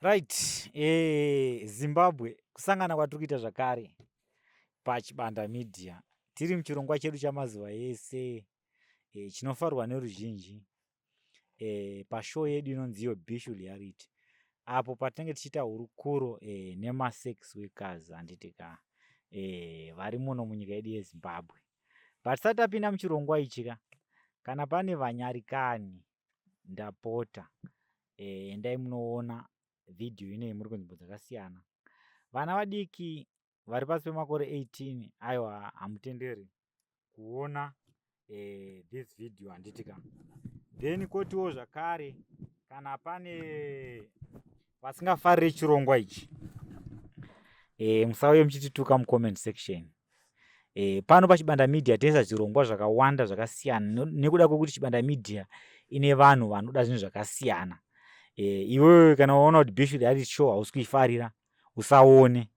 Right, eh, Zimbabwe kusangana kwatiri kuita zvakare paChibanda Media tiri muchirongwa chedu chamazuva ese eh, chinofarwa neruzhinji eh, pashow yedu inonzi iyo Bishu Reality apo patinenge tichiita hurukuro eh, nemasex workers handiti ka eh, vari muno munyika yedu yeZimbabwe. Patisati tapinda muchirongwa ichi ka kana pane vanyarikani ndapota eh, endai eh, munoona vhidhiyo inei muri kunzvimbo dzakasiyana vana vadiki vari pasi pemakore 18 ayo hamutenderi kuona eh, this video handiti ka then kotiwo zvakare kana pane vasingafarire chirongwa ichi eh, musauye muchitituka mucomment section E, pano pachibanda media tinoisa zvirongwa zvakawanda zvakasiyana nekuda kwekuti chibanda media ine vanhu vanoda zvinhu zvakasiyana e, iwewe kana waona kuti bishu reality show hausi kuifarira usaone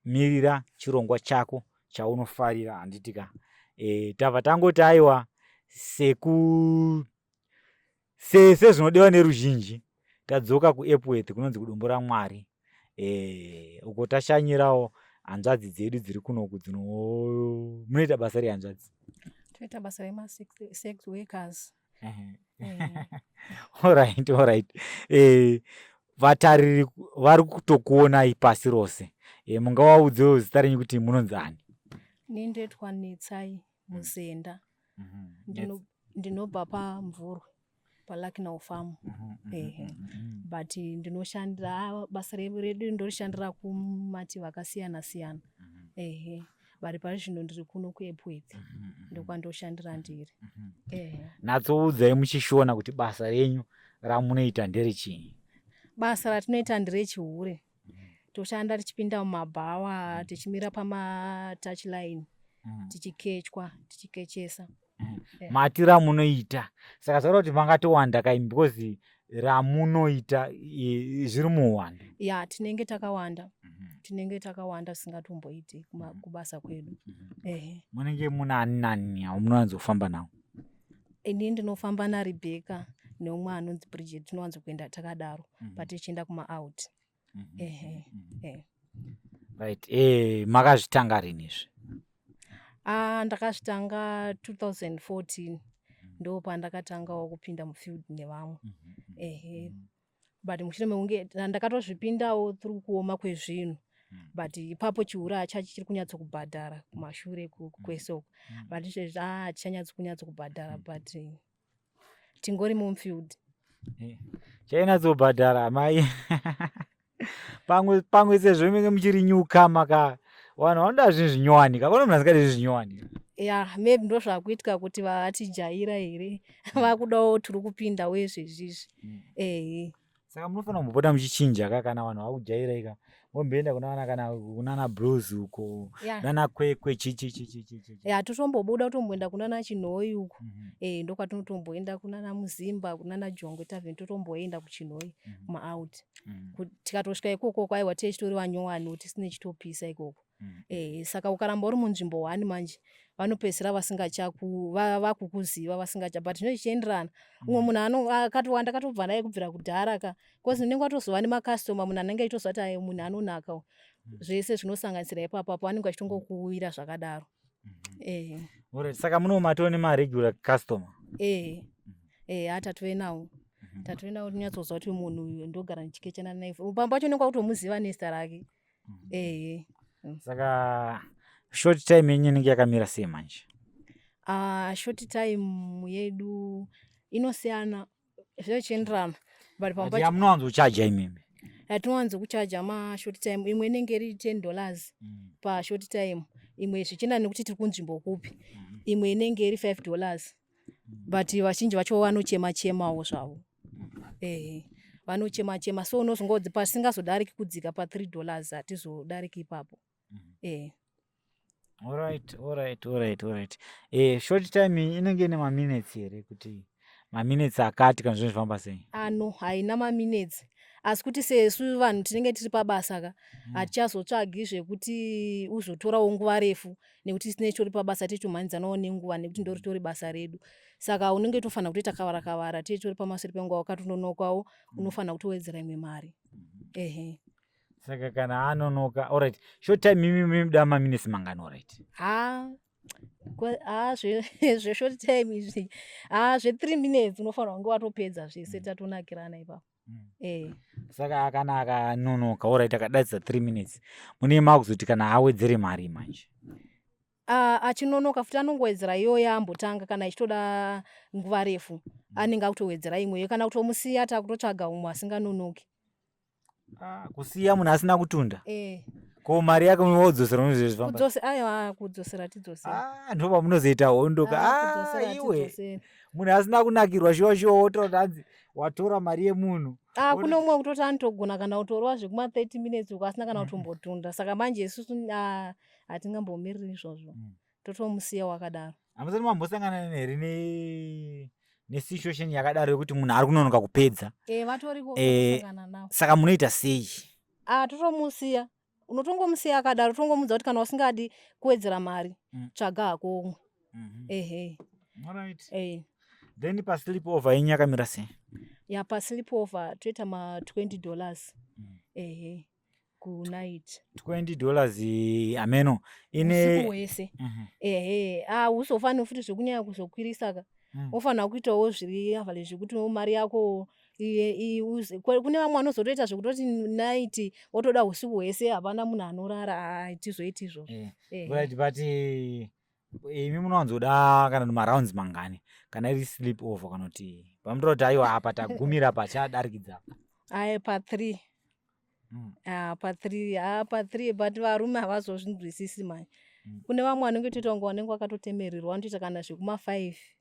mirira chirongwa chako chaunofarira handitika e, eh, tava tangoti aiwa seku Sese zvinodiwa neruzhinji tadzoka kuEpworth kunonzi kudombo raMwari eh, uko tashanyirawo hanzvadzi dzedu dziri kunoku dzino munoita basa rehanzvadzi toita basa remasex workers orit eh. orit eh, vatariri vari kutokuonai pasi rose eh, mungawaudzewo zita renyu kuti munonzi ani ni ndoitwa netsai musenda mm -hmm. ndino ndinobva pamvurwe palacknow farm mm -hmm. ehe mm -hmm. but ndinoshandira basa redu ndorishandira kumativi akasiyana siyana mm -hmm. ehe vari pari zvino ndiri kuno kuepwedzi mm -hmm. Mhm. ndokwandoshandira mhm. ndiri mm -hmm. ehe natsoudzai muchishona kuti basa renyu ramunoita nderechii basa ratinoita nderechihure toshanda tichipinda mumabhawa mm. tichimira pamatouch line mm. tichikechwa tichikechesa mm. yeah. mati ramunoita saka zvakuda kuti mangatowanda kai because ramunoita zviri muwanda ya tinenge takawanda mm -hmm. tinenge takawanda singatomboiti mm-hmm. kubasa kwedu mm -hmm. munenge muna ani nani amunowanzofamba nawo ini ndinofamba narebecca neumwe anonzi bridget tinowanzo kuenda takadaro mm -hmm. patichienda kumaout mm -hmm. ehe mm -hmm. eh. right eh, makazvitanga rini izvi ah, ndakazvitanga 2014 mhm. ndo pandakatangawo kupinda mufield nevamwe mm -hmm. ehe mm -hmm. but mushure mekunge ndakatozvipindawo tiri kuoma kwezvinhu hmm. but ipapo chiuraya chacho chiri kunyatso kubhadhara kumashure hmm. kwese uko hmm. but izvezvi a ah, chichanyatso kunyatso kubhadhara but tingori mumfield eh, chainatzobhadhara mai pamwe pamwe sezvo menge muchiri nyuka maka vanhu vanoda zvinhu zvinyowani kakona munhu asingadi zvinhu zvinyowani ya maybe ndozvakuitika kuti vatijaira here mm. vakudawo tiri kupinda wezvezvizvi mm. ehe saka munofanira kumbopota muchichinja ka kana vanhu vakujairai ka momboenda kunana kana kunana bros uko nana kwekwe chichichichichichi ya totombobuda kutomboenda kunana chinhoyi uko mhm. eh ndokwatinotomboenda kunana muzimba kunana jongwe tavheni totomboenda kuchinhoyi mhm. kumaout mhm. tikatosvika ikoko kwaiwa tee chitori vanyowani tisine chitopisa ikoko Mm. Eh, saka ukaramba uri munzvimbo one manje vanopedzisira vasingachaku vakukuziva vasingacha but zvino zvichienderana mm. umwe munhu ano akatowa ndakatobva naye kubvira kudhara ka bcause unenge watozova nemacustoma munhu anenge achitoziva kuti munhu anonaka mm. zvese zvinosanganisira ipapapo anenge achitongokuwira zvakadaro mm-hmm. eh. Alright, saka muno matoo nemaregular customer eh. Mm. eh, atatove nawo mm-hmm. tatove nawo tinyatsozva kuti munhu uyu ndogara ndichikechana naye pamwe pacho unenge wakutomuziva nezita rake mm. mm. ehe saka short time yenyu inenge yakamira sei manje uh, short time yedu inosiyana zvichienderana but pamunowanza kuchaja imimi yatinowanza kuchaja mashort time imwe inenge iri ten dollars mm. pashort time imwe zvichienda nekuti tiri kunzvimbo kupi mm. imwe inenge iri five dollars but vazhinji vacho vanochema chemawo zvavo ehe vanochema chema so unozongodzi pasingazodariki kudzika pa three dollars hatizodariki ipapo mm-hmm. ehe Alright, alright, alright, alright. Eh, short time inenge ine maminutes here kuti maminutes akati kana zvinhu zvifamba sei? Ano haina maminutes asi kuti sesu vanhu tinenge tiri pabasa ka mm. hatichazotsvagi zvekuti uzotorawo nguva refu mm. nekuti tine tori pabasa tiri tumhanyidzanawo nenguva nekuti ndori tori basa redu saka unenge tofanira kutoita kavara kavara tiri tori pamaseri penguva wakatononokawo mm. unofanira kutowedzera imwe mari mm-hmm. ehe saka kana anonoka orit short time imi mimda maminisi mangani orit ha ha zveshort time izvi ha zve three minutes unofanira kunge watopedza zvese mm. tatonakirana ipapo mm. eh. saka kana akanonoka orit akadadza three minutes mune makuzoti kana awedzere mari manje ah, achinonoka futi anongowedzera iyo yaambotanga kana ichitoda nguva refu mm. anenge akutowedzera imweyo kana kutomusiya takutotsvaga umwe asinganonoki ah, kusiya munhu asina kutunda eh ko mari yake munodzosera unozvizvifambakudzosera tidzosera ah, ndo pamunozoita hondoka ah, ah, iwe munhu asina kunakirwa shuwa shuwa wototanzi watora mari yemunhu ah, kune umwe kutoti anotogona kana kutorova zvekuma 30 minutes uko asina kana kutombotunda saka manje isusu ah, hatingambomiriri izvozvo mm. totomusiya wakadaro amusati mambosangana here ne nesituation yakadaro yekuti munhu ari kunonoka kupedza eh, eh, saka munoita sei ah, totomusiya unotongomusiya akadaro tongomuudza kuti kana usingadi kuwedzera mari mm. tsvaga hako umwe mm-hmm. ehe eh. then paslip over yenyu yakamira sei ya paslip over toita ma 20 dollars mm. ehe kunight 20 dollars ameno ine wese mhm. ehe ah usofanira futi zvekunyaya kuzokwirisa ka mm. ofanira kuitawo zviri average zvekuti mari yako kune vamwe vanozotoita zvekutoti night wotoda usiku hwese hapana munhu anorara hatizoiti izvozvo eh, eh, right eh. but imi munowanzoda kana marounds mangani kana iri sleep over kana kuti pamutora kuti aiwa apa tagumira pachadarikidza aye pathree hmm. ah, pathree ah, pathree but varume havazozvinzwisisi manje hmm. kune vamwe vanenge toita kunge vanenge vakatotemererwa vanotoita kana zvekuma five mm.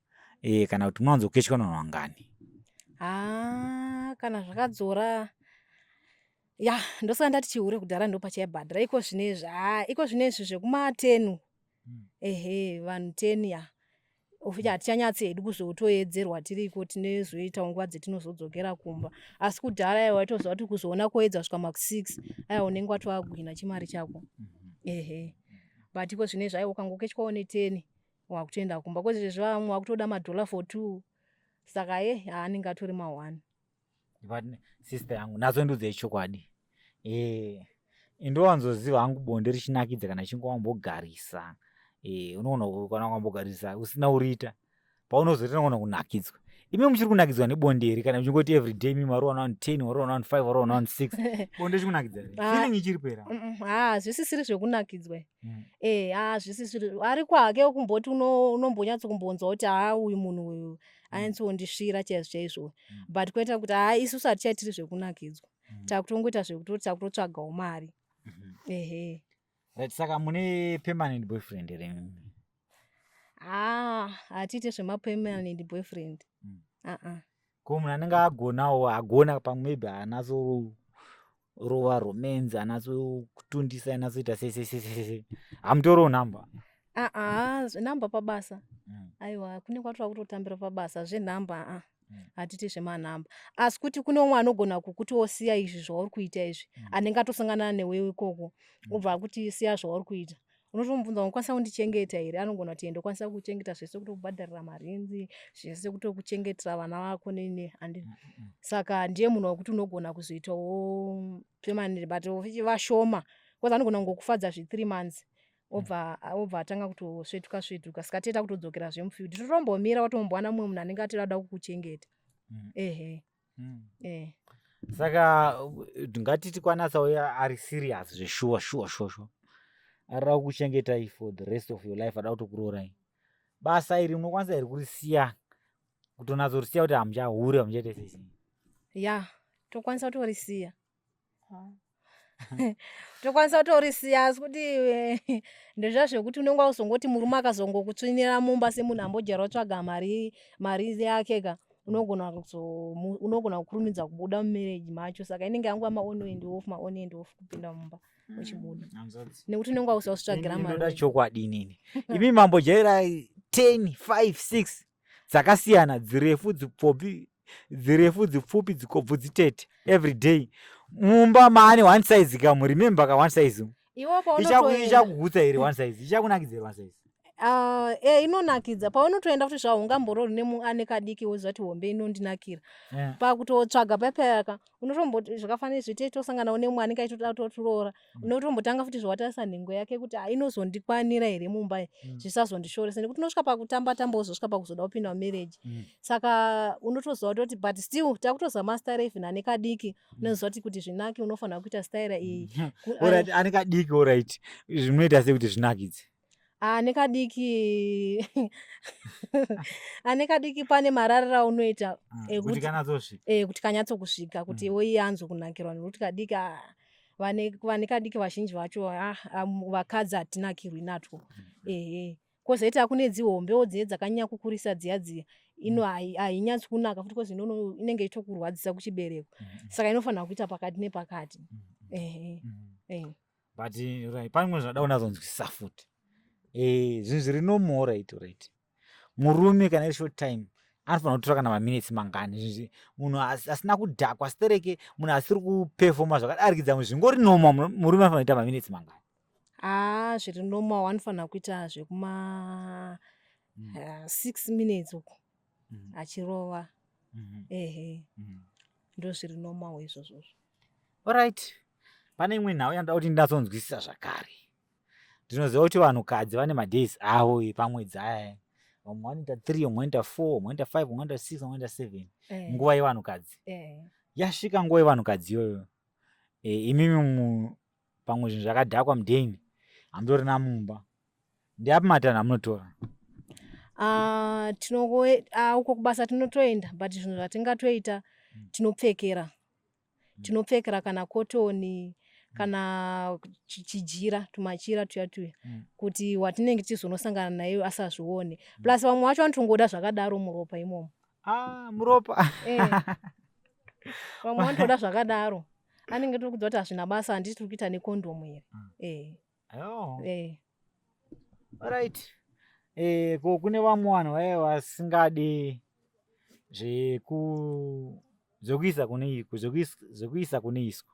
e, kana kuti munowanzo kechwa vanhu vangani ah, kana zvakadzora ya ndosaka ndati chihure kudhara ndopachaibhadhara iko zvinezvi ha iko zvinezvi zvekumatenu hmm. ehe vanhu ten ya ofuti hmm. hatichanyatsi hedu kuzotoedzerwa tiriko tinezoitawo nguva dzetinozodzokera kumba asi kudhara yaiwa waitoziva kuti kuzoona koedza svika maku six aiwa unenge watoaguhina chimari chako hmm. ehe but iko zvinezvi aiwa ukangokechwawo neteni wakutoenda kumba kwete zvezvi vamwe wakutoda madhola for two saka ye haanenge atori mahwani but sister yangu nazo ndudzi yechokwadi e eh, indowanzoziva hangu bonde richinakidza kana chinge wambogarisa e unoona kana wambogarisa usina uriita paunozoita unoona kunakidzwa imi muchiri kunakidzwa nebonde here kana muchingoti everyday mi wari one ten wari one five wari one six bonde chikunakidzaa ah. ichiri pera haa zvisisiri zvekunakidzwa mm. e hazvisi zviro ari kwake kumboti unombonyatso kumbonzwa kuti haa uyu munhu uyu mm. anyatsondisvira chaizvo chaizvo mm. but kuita kuti haa isusu hatichaitiri zvekunakidzwa mm. takutongoita zvekutoti takutotsvagawo mari mm -hmm. ehe right saka mune permanent boyfriend here haa ah, hatiite zvemapermanent boyfriend mm. uh -uh. ko munhu anenge agonawo agona pamwe maybe anaso rova romenzi anaso kutundisa anasoita sesesesese hamutoriwo nhamba aa zvenhamba pabasa mm. aiwa kune kwatova kutotambira pabasa zvenhamba aa mm. hatiti zvemanhamba asi kuti kune umwe anogona kukuti osiya izvi zvauri kuita izvi mm. anenge atosanganana newe ikoko obva akuti siya zvauri kuita unotomubvunza unokwanisa kundichengeta here anogona kuti ende kwanisa kuchengeta zvese kutokubhadharira marinzi zvese kutokuchengetera vana vako nene and mm, mm, mm. saka ndiye munhu wekuti unogona kuzoitawo pemaniri but vashoma bcause anogona kungokufadza zvethree months obva obva atanga kutosvetuka svetuka saka tieta kutodzokera zvemufield totorombomira watombowana mumwe munhu anenge atira kuda kukuchengeta ehe mm. eh. saka ngatiti kwanatsa uye ari serious zveshuwa shuwa shuwa shuwa arira kuchengetai for the rest of your life ada kutokuroorai basa iri munokwanisa here kurisiya kutonatsorisiya kuti hamuchahure hamuchaita sei ya tokwanisa kutorisiya tokwanisa kutorisiya asi kuti eh, ndozva zvekuti unenge wauzongoti murume akazongokutsvinira mumba semunhu ambojara otsvaga mari mari yake ka unogona unogona kukurumidza kubuda mumereji macho saka inenge yanguva maone and off maone and off kupinda mumba hmm, uchibuda nekuti unenge wausautsvagira marioda chokwadi inini imi mambojaira 10 5 6 dzakasiyana dzirefu dzipfopi dzirefu dzipfupi dzikobvu dzitete every day mumba maane one size kamu remember ka one size ichakugutsa here one size ichakunakidza here one size Uh, e inonakidza paunotoenda kuti zvaungamborori nemuane kadiki wozvati hombe inondinakira yeah. pakutotsvaga payapayaka unotomboti zvakafanira zvitei tosanganawo nemuani kaitoda totiroora mm. unotombotanga futi zvawatarisa nhengo yake kuti inozondikwanira here mumba mm. zvisazondishoresa nekuti unosvika pakutamba tamba uzosvika pakuzoda kupinda mumarriage mm. saka unotoziva kutoti but still takutozama style even ane kadiki mm. unoziva kuti kuti zvinake unofanira kuita style iyi mm. ane kadiki orit zvinoita sekuti zvinakidze ane kadiki ane kadiki pane mararira aunoita mm, eh, kuti eh, kanyatsokusvika kuti mm. iwoiye anzwe kunakirwa nekuti kadiki ah, vane kadiki vazhinji vacho ah, ah, vakadzi hatinakirwi natwo mm. ehe kozoita kune dzihombewo dziye dzakanyanya kukurisa dziya dziya ino hainyatsi kunaka futi kozi inono inenge itokurwadzisa kuchibereko saka inofanira kuita pakati nepakati ehe but eh, right pamwe zvada unazonzwisisa futi eh, zvinhu zviri nomo right right murume kana iri short time anofanira kutora kana maminitsi mangani zvinzi munhu asina kudhakwa stereke munhu asiri kupefoma zvakadarikidza munhu zvingori noma murume anofanira kuita maminitsi mangani haa ah, zviri noma wanofanira kuita zvekuma hmm. eh, six minutes uku mm. achirova mm -hmm. ehe mm -hmm. ndozviri normal izvozvozvo orit pane imwe nhau yanoda kuti ndindatsonzwisisa zvakare ndinoziva kuti vanhukadzi vane madays avo epamwedzi aya vamwe vanoita three vamwe vanoita four vamwe vanoita five vamwe vanoita six vamwe vanoita seven eh. nguva yevanhukadzi eh. yasvika nguva yevanhukadzi iyoyo eh, imimi pamwe zvinhu zvakadhakwa mudhain hamutorina mumba ndeapi matanho amunotora ah, ah, uko kubasa tinotoenda but zvinhu zvatingatoita hmm. tinopfekera hmm. tinopfekera kana kotoni hmm. kana chijira tumachira tuya tuya kuti watinenge tichizonosangana naye asazvione plus vamwe vacho vanotongoda zvakadaro muropa imomo ah, muropa eh. vamwe vanotoda zvakadaro anenge tiri kudzwa kuti hazvina basa handiti tiri kuita nekondomu here mm. eh. oh. eh. right eh, ko kune vamwe vanhu vaye vasingadi zvekuisa kune zvekuisa kune iswa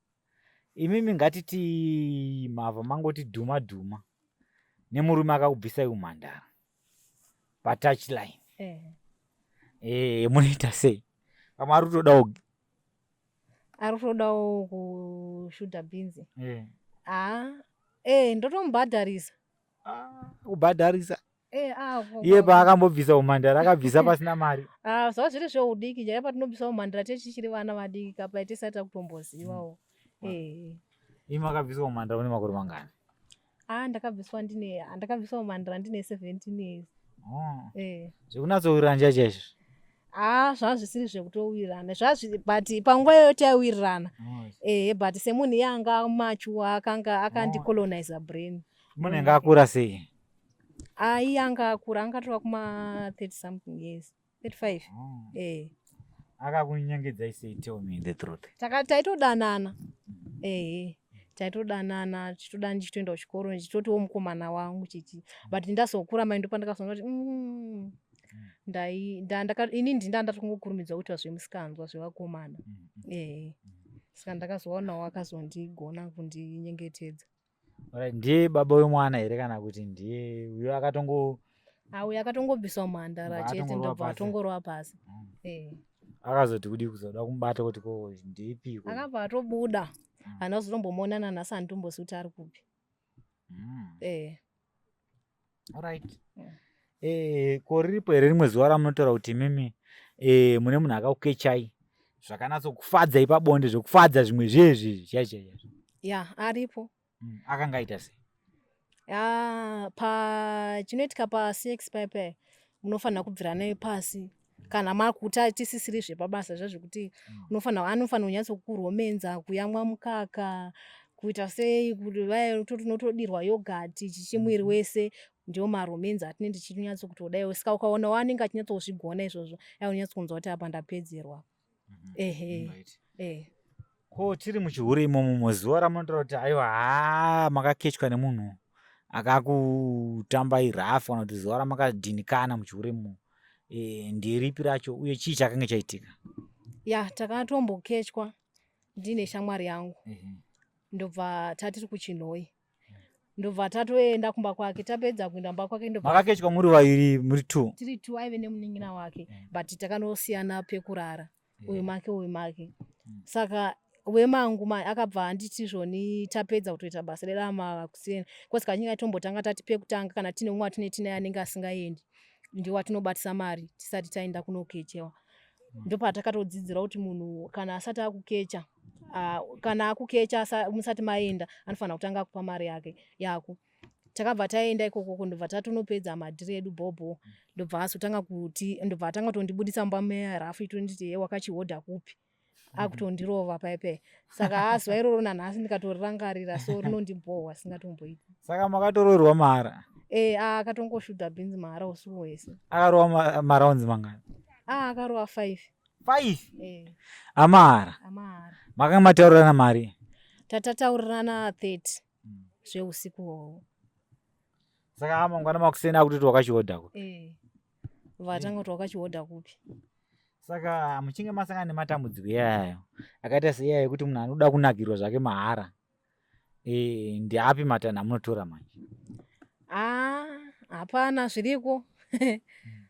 imimi ngatiti mava mangoti dhuma dhuma nemurume akakubvisai umhandara patouch line eh. Eh, munoita sei pamwe ari kutodawo ari kutodawo kushuta bhinzi eh. aa ah, eh, ndotomubhadharisa ah, kubhadharisa Eh, ah, ko- iye ko- paakambobvisa umhandara akabvisa pasina mari Ah, zvava zviri zveudiki chaiye patinobvisa umhandara tichiri vana vadiki ka pai tisati takutombozivawo Eh. imi akabvisa umhandara une makore mangani ah ndakabviswa ndine ah, ndakabviswa umhandara ndine 17 years Oh, Eh. zvekunatsowiriranja chaizvo ah zvava zvisiri zvekutowirirana zvazvi but panguva iyoyo taiwirirana Oh, ehe but semunhu iye anga machuwa akanga akandicolonizer brain munenge akura sei Ayi anga akura anga tova kuma 30 something years. 35. Oh. Eh. Akakunyengedza i say tell me the truth. Taka taitodanana. Mm-hmm. Eh. Taitodanana tichitoda ndichitoenda kuchikoro ndichitotiwo mukomana wangu chichi. But ndazokura mai ndopandakazoona kuti mm, ndai ndandaka ini ndinda ndatokungokurumidza kuitwa zvemusikanzwa zvevakomana. Mm-hmm. Eh. Saka ndakazoona wakazondigona kundinyengetedza. Alright, ndiye baba wemwana here kana kuti ndiye uyo akatongo auya akatongobviswa mhandara Ndobva chete atongorova ndobva pasi. atongorova pasi Mm. Eh. akazoti kudii kuzoda kumubata kuti ko ndeipiko? akabva atobuda Mm. hana kuzotombomuonana nhasi handitombozivi kuti ari kupi Mm. eh. right yeah. eh, ko riripo here rimwe zuva ramunotaura kuti mimi eh, mune munhu akakukechai zvakanatsokufadza ipabonde zvokufadza zvimwe zvezvi zvaizvai ya aripo mm, akanga aita sei ah, pachinoitika pasex paipai munofanira kubvira naye pasi kana makuti atisisiri zvepabasa zva zvekuti mm. unofanira anofanira kunyatso kuromenza kuyamwa mukaka kuita sei kuti vaya tinotodirwa yogati chichimwiri mm-hmm. wese ndiwo maromenzi atinenge tichinyatso kuti kudai saka ukaona waanenge achinyatso kuzvigona izvozvo dai unyatso kunzwa kuti apa ndapedzerwa Mhm. Ehe. Right. Eh. ko tiri muchihure imomo muziva ramunotaura kuti aiwa haa makakechwa nemunhu akakutambai rough kana kuti zuva ramakadhinikana muchihure imomo e, ndiripi racho uye chii chakange chaitika ya takatombokechwa ndine shamwari yangu ndobva tatiri kuchinhoyi ndobva tatoenda kumba kwake tapedza kuenda kumba kwake makakechwa muri vairi muri two tiri two aive nemunin'ina wake mm. but takanosiyana pekurara uyu make uyu make mm. saka wemangu mai akabva anditi zvoni tapedza kutoita basa redu amakuseni kosi kachinge atombotanga tati pekutanga kana tine umwe atine tine anenge asingaendi ndiwo atinobatisa mari tisati taenda kunokechewa mm. ndopatakatodzidzira kuti munhu kana asati akukecha Ah, kana akukecha musati maenda anofanira kutanga akupa mari yake yako takabva taenda ikoko kundobva tatonopedza madhiri edu bhobho ndobva azotanga kuti ndobva atanga kutondibudisa mba meya rafu itonditi ye wakachihodha kupi mhm. akutondirova paipe saka azuva iroro nanhasi ndikatorangarira so rinondibhohwa singatomboiti saka makatoroerwa mahara e ah, akatongoshudha bhinzi mahara usiku hwese akarowa maraunzi mangani ah, akarowa five 5 eh. amahara amahara makanga mataurirana mari tatataurirana 30 hmm. zveusiku hwohwo saka amangwana makuseni akuti kuti wakachihodha kupi eh. vatanga kuti wakachihodha kupi saka muchinge masangana nematambudziko iyayo akaita seiyayo yekuti munhu anoda kunakirwa zvake mahara Eh, ndeapi matanho amunotora manje? Ah, hapana zviriko.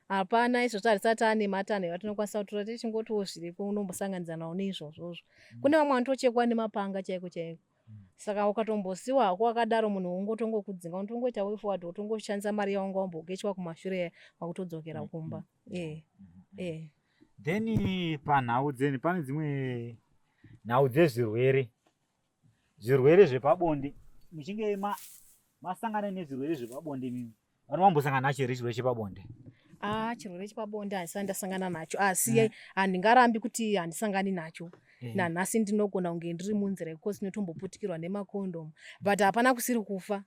hapana izvozvo harisati ane matanho atinokwanisa kutora tichingotiwo zviriko unombosanganidza nawo neizvozvozvo mm. kune vamwe vanotochekwa nemapanga chaiko chaiko mm. saka ukatombosiwa hako wakadaro munhu wongotongokudzinga unotongoita way forward wotongoshandisa mari yawanga wambogechwa kumashure wakutodzokera mm, kumba e e then panhau dzeni pane dzimwe nhau dzezvirwere zvirwere zvepabonde muchinge ma masangana nezvirwere zvepabonde mimi vanhu vambosangana nacho here chirwere chepabonde ah chirwere chepabonde handisati ndasangana nacho asi ah, mm. handingarambi kuti handisangani nacho mm. nanhasi ndinogona kunge ndiri munzira yekukosi inotomboputikirwa nemakondom but hapana kusiri kufa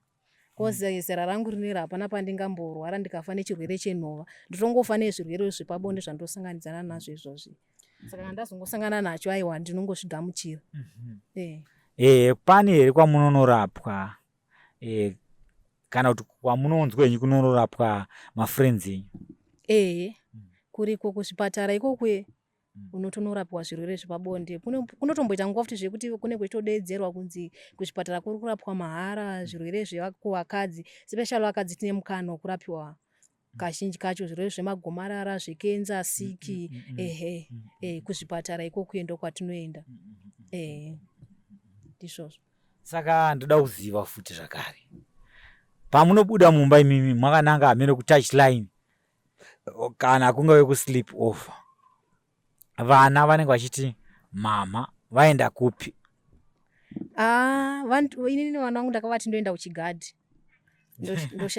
cause mm. zera rangu rinera hapana pandingamborwara ndikafa nechirwere chenhova ndotongofa nezvirwere zvepabonde zvandosanganidzana nazvo izvozvi saka kana ndazongosangana nacho aiwa ndinongozvigamuchira mhm. eh. ehe pani here kwamunonorapwa eh, kana kuti kwamunonzwenyi kunonorapwa mafriends enyu ehe mm. kuriko kuzvipatara ikokwe Mm. unotonorapiwa zvirwere zvepabonde kunotomboita nguva futi zvekuti kune kwechitodeedzerwa kunzi kuzvipatara kuri kurapwa mahara mm. zvirwere zvekuvakadzi special vakadzi tine mukana wekurapiwa mm. kazhinji kacho zvirwere zvemagomarara zvekenza siki ehe e, kuzvipatara iko kuenda kwatinoenda ehe ndizvozvo saka ndoda kuziva futi zvakare pamunobuda mumba imimi mwakananga hameno kutouch line kana kungave kusleep over vana vanenge vachiti mama vaenda kupi ah, inini vana vangu ndakavati ndoenda kuchigadhi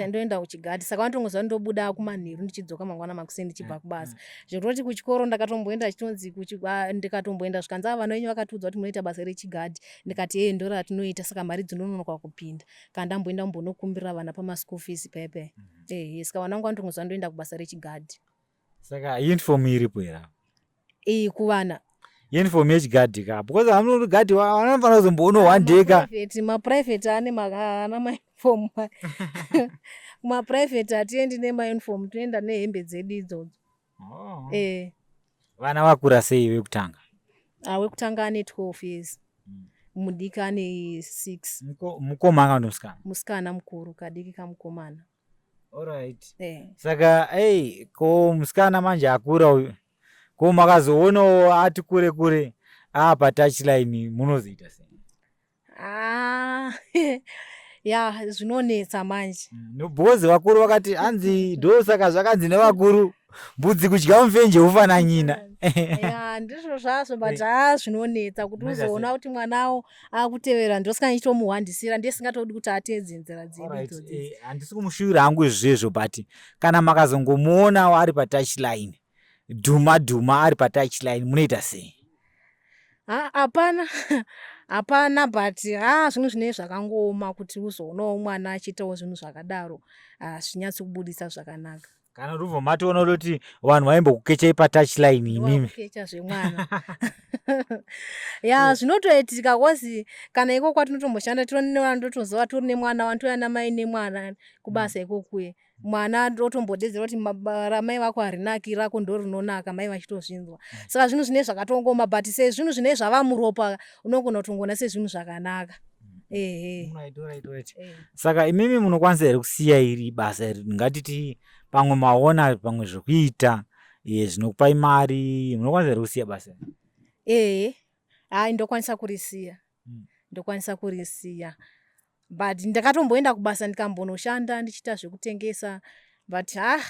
ndoenda kuchigadhi saka vanotongoziva ndobuda kumanheru ndichidzoka mangwana makuseni ndichibva mm, kubasa mm. zvekutoti kuchikoro ndakatomboenda chitonzi ah, ndikatomboenda zvikanzi ava ah, vanonyu vakatiudza kuti munoita basa rechigadhi ndikati hee ndoro ratinoita saka mari dzinononoka kupinda kana ndamboenda kumbonokumbirira vana pamaschool fees paya paya mm. ehe saka vana vangu vanoto ngozi vanotoenda kubasa rechigadhi saka uniform iripo here apa iyi kuvana uniform yechigadhi ka because vanoti gadhi wa- vanofanira kuzomboona one day ka Private, maprivate ane ma- haana mauniform maprivate hatiendi nemauniform tinoenda nehembe dzedu idzodzo Oh. Eh. Vana vakura sei vekutanga? Ah, wekutanga ane 12 years. Mm. Mudiki ane 6. Muko, mukoma kana musikana? Musikana mukuru kadiki kamukomana. Alright. Eh. Saka hey, ko musikana manje akura uyu. Ko makazoonawo ati kure kure apa touchline munozoita sei? Ah, ya zvinonetsa manje nobhozi vakuru vakati hanzi do saka zvakanzi nevakuru mbudzi kudya mufenje ufananyina ya ndizvo zvazvo but haa zvinonetsa kuti Mega uzoona kuti mwanawo akutevera ndosika ndichitomuhwandisira ndiye singatodi kuti ateedze nzira dzedu Alright, idzodzi eh, handisi kumushuvira hangu izvezvo but kana makazongomuonawo ari patouch line dhuma dhuma ari patouch line munoita sei hapana hapana but haa zvinhu zvinei zvakangooma kuti uzoonawo mwana achiitawo zvinhu zvakadaro hazvinyatsi kubudisa zvakanaka kana ruvo matoona kuti vanhu vaimbokukechai patouchline imimikecha zvemwana ya zvinotoitika kozi kana iko kwatinotomboshanda tironevana totozova tori nemwana wani touya namai nemwana kubasa mm. ikokuye mwana otombodedzera kuti ramai vako harinaki rako ndo rinonaka mai vachitozvinzwa mm. saka zvinhu zvinei zvakatongoma but se zvinhu zvinei zvava muropa unogona kutongona sezvinhu zvakanaka mm. eh. saka imimi munokwanisa here kusiya iri basa iri ngatiti pamwe maona pamwe zvekuita ye zvinokupai mari munokwanisa here kusiya basa ehe hai ndokwanisa kurisiya mm. ndokwanisa kurisiya but ndakatomboenda kubasa ndikambonoshanda ndichiita zvekutengesa but ha ah,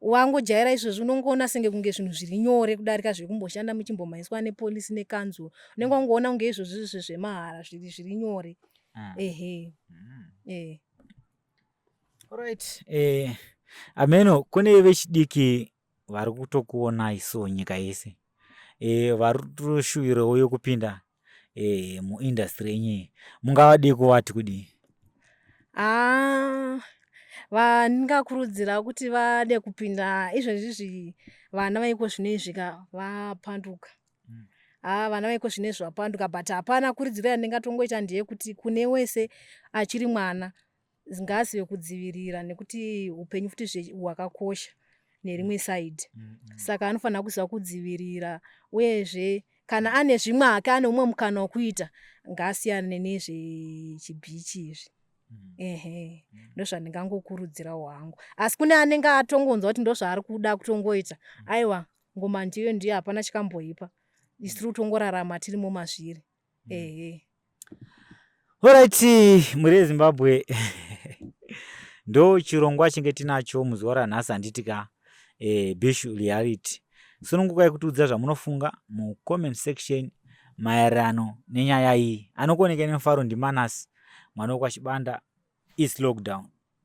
wangojaira izvozvi unongoona senge kunge zvinhu zviri nyore kudarika zvekumboshanda muchimbomhanyiswa nepolisi nekanzuro unenge mm. wangoona kunge izvozvi izvi zvemahara zviri zviri nyore mm. ehe mm. eh. right eh, ameno kune vechidiki vari kutokuonai so nyika yese eh, vari kutoshuwirawo yokupinda eh, muindustry yenyu mungavadii kuvati kudii ah, vandingakurudzira kuti vade kupinda izvezvizvi vana vaiko zvino izvi ka vapanduka mm. ah, vana vaiko zvino izvi vapanduka but hapana kuridziro yandingatongoita ndeyekuti kune wese achiri mwana ngaazive kudzivirira nekuti upenyu futi zve hwakakosha nerimwe side mm -hmm. saka anofanira kuziva kudzivirira uyezve kana ane zvimwe hake ane umwe mukana wekuita ngaasiyane nezvechibhichi izvi mm. ehe mm. ndozvandingangokurudzirawo hangu asi kune anenge atongonzwa kuti ndozvaari kuda kutongoita mm. aiwa ngoma ndiyo ndiyo hapana chikamboipa isiri kutongorarama tirimo mazviri mm. mm. ehe orit mhuri yezimbabwe ndo chirongwa chinge tinacho muzuva ranhasi handiti ka e, bishu reality sunungukai kutiudza zvamunofunga mucomment section maererano nenyaya iyi anokuonekei nemufaro ndimanasi mwana wekwachibanda is lockdown